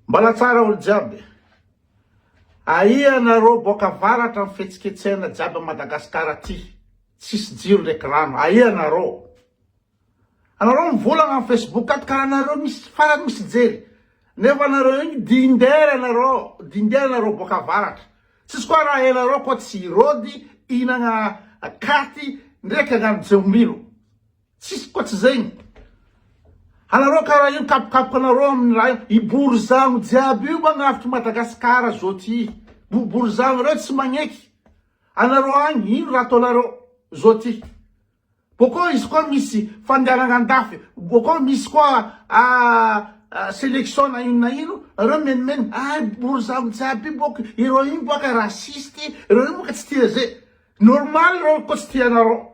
Mbala tsara olo jiaby. Aia nareo boaka avaratra ny fihetsiketsehana jiaby Madagascar aty tsisy jiro ndreky rano aia nareo. Anareo mivolagna am Facebook ato kara nareo misy farany misy hijery nefa nareo igny dindera nareo dindera nareo boaka avaratra tsisy koa raha enareo koa tsy hirody hinagna katy ndreky agnano jeomilo. Tsisy koa tsy zegny. Anareo karaha io kapokapoka anareo aminy raha io. I borizano jiaby io magnavotry Madagascar zao ty. Borizano reo tsy magneky. Anareo agny ino raha ataonareo zao ty. Bokeo izy koa misy fandehanagna andafy. Bokeo misy koa selection na ino na ino. Reo menomeno ah borizano jiaby io bôka. Ireo io bôka raciste. Ireo io bôka tsy tia ze. Normal reo koa tsy tia anareo.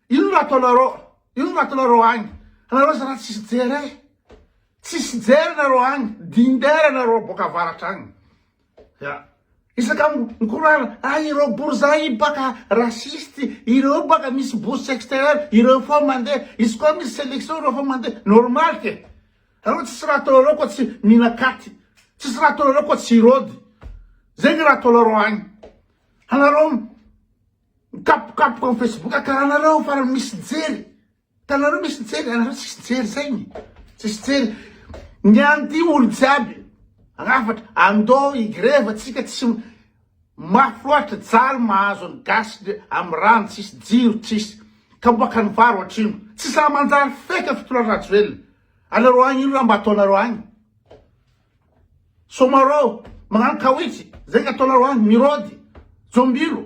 Inona no ataonareo? Inona no ataonareo agny? Anareo zalahy tsisy jery eh! Tsisy jery nareo agny, dindera nareo boaka avaratra agny. Ya. Isaka mikorana, ah ireo borzay baka raciste, ireo baka misy bourse extérieure, ireo foa mandeha, izy koa misy sélection ireo foa mandeha. Normal ke. Anareo tsisy raha ataonareo koa tsy minakaty. Tsisy raha ataonareo koa tsy irody. Zegny raha ataonareo agny. Anareo Mikapokapoka am facebook karaha nareo fa misy mijery tanareo misy mijery anareo tsisy mijery zegny tsisy mijery ny any ty olo jiaby rafatra andô i greva tsika tsy mafy loatra jaly mahazo ny gasy de am rano tsisy jiro tsisy kapoaka ny vary oatrino tsy sahy manjary feka fitolona rajoelina anareo any ino raha mba ataonareo any Somarô, magnano kawitch, zay ny ataonareo any, mirôdy, jombilo,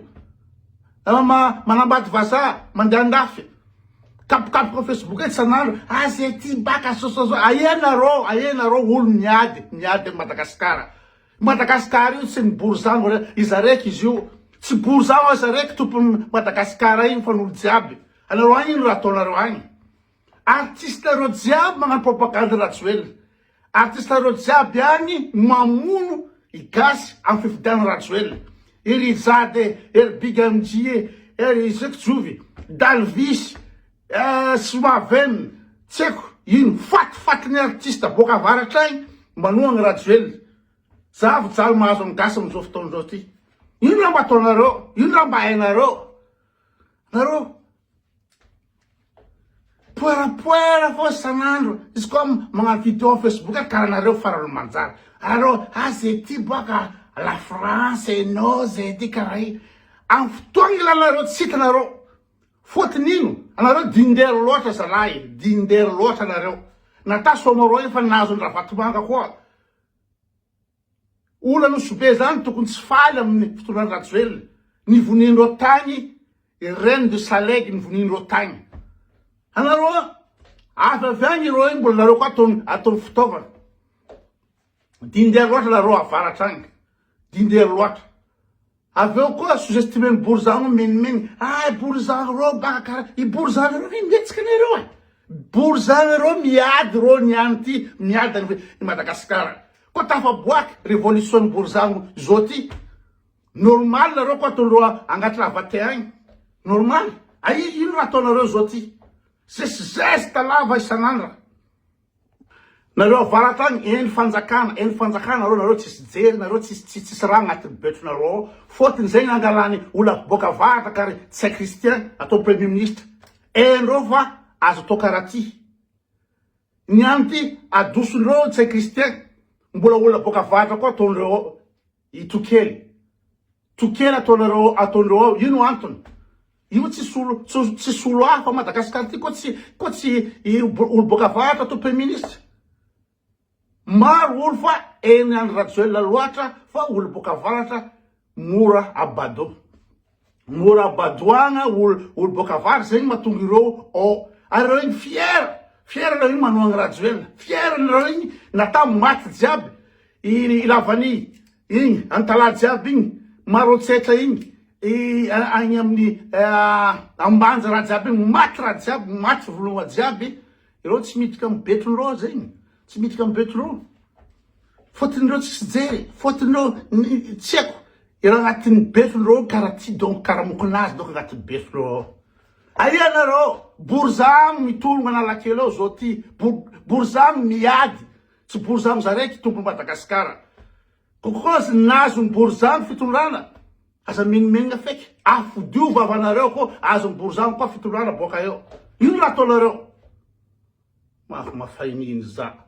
manambady vazaha, mandeha andafy, kapokapoka facebook etsy san'andro, aza ety baka, sososo, aia narô, aia narô olo miady, miady am Madagasikara, Madagasikara io tsy ny borizano iza raiky izy io, tsy borizano iza raiky tompony Madagasikara iny fa ny olo jiaby, anareo any ino raha ataonareo any. Artiste reo jiaby magnano propagande Rajoelina. Artiste reo jiaby agny mamono i gasy am fifidiana Rajoelina. I Rijade, er big amjie, er i Zekijovy, Dalvis, eh Soavem, tsy aiko ino fat fat ny artiste boaka avaratra agny manohagna Rajoelina. Zavo jaly mahazo am gasy am zao fotoagna zao ty. Ino raha mba ataonareo? Ino raha mba hainareo? Nareo. Poerapoera fô san'andro, izy koa magnano vidéo am Facebook a karaha nareo farany manjary, arô ah zay ty boaka la France eh no zay ty karaha i, am fotoagna ilanareo tsy hitanareo, fôtony ino anareo dinder lôtra zalahy e, dinder lôtra anareo, na ta somarô efa nahazo an-dRavatomanga koa. Olona no zo be zany tokony tsy faly aminy fitondran Rajoelina ny voniandreo tagny et reine de salegy ny voniandreo tagny anareo a avy avy agny ireo io mbola nareo koa ataony fitaovana dindery loatra nareo avaratra agny dindery loatra Avy eo koa sous-estimer-ny borizano hoe menimeny, ay borizano reo baka kara, i borizano reo ve mihetsika ne reo a? Borizano reo miady reo ny any ty, miady any i Madagasikara, koa tafaboaky revolution-ny borizano zao ty, normal nareo koa ataondreo agnaty lavatin agny, normal, aia ino raha ataonareo zao ty, zes zesta lava isan'andra. Nareo avaratra agny eny fanjakana eny fanjakana nareo nareo tsisy jery nareo tsisy tsisy tsisy raha agnatiny betro nareo ao fotony zegny angalany ola boka avaratra ka ry tsay Christian atao premier ministre haindreo fa azo atao kara ty ny any ty adosondreo tsay Christian mbola ola boka avaratra koa ataondreo ao I Tokely. Tokely ataonareo ataonreo ao io no antony. Io tsy solo tsy solo hafa ao Madagascar ty ko tsy ko tsy olo boaka avaratra to premier ministre. Maro olo fa eny any Rajoelina loatra fa olo boaka avaratra mora abado. mora badoagna ol ol boaka avara zegny matonga ireo ô ary ireo igny fier fier nareo igny manohagna rajoelina fier nareo igny na tam maty jiaby i lavani igny antalaha jiaby igny marotsetra igny i agny amin'ny ambanja raha jiaby igny maty raha jiaby maty vonoa jiaby ireo tsy miditra am betrony reo zegny tsy miditra am betrony reo Fôtinireo tsisy hijery e, fôtinireo tsy haiko ireo agnatin'ny beso reo ao kara ty donc kara mokonazy donc agnatin'ny beso reo ao. Aia nareo borizano mitologna analakely ao zao ty borizano miady tsy borizano za raiky tompony Madagascar kokozy nazo ny borizano fitondrana aza minomenogna feky afodio vavanareo ko azony borizano ko fitondrana boaka eo ino raha ataonareo Mafy mafay mihiny za.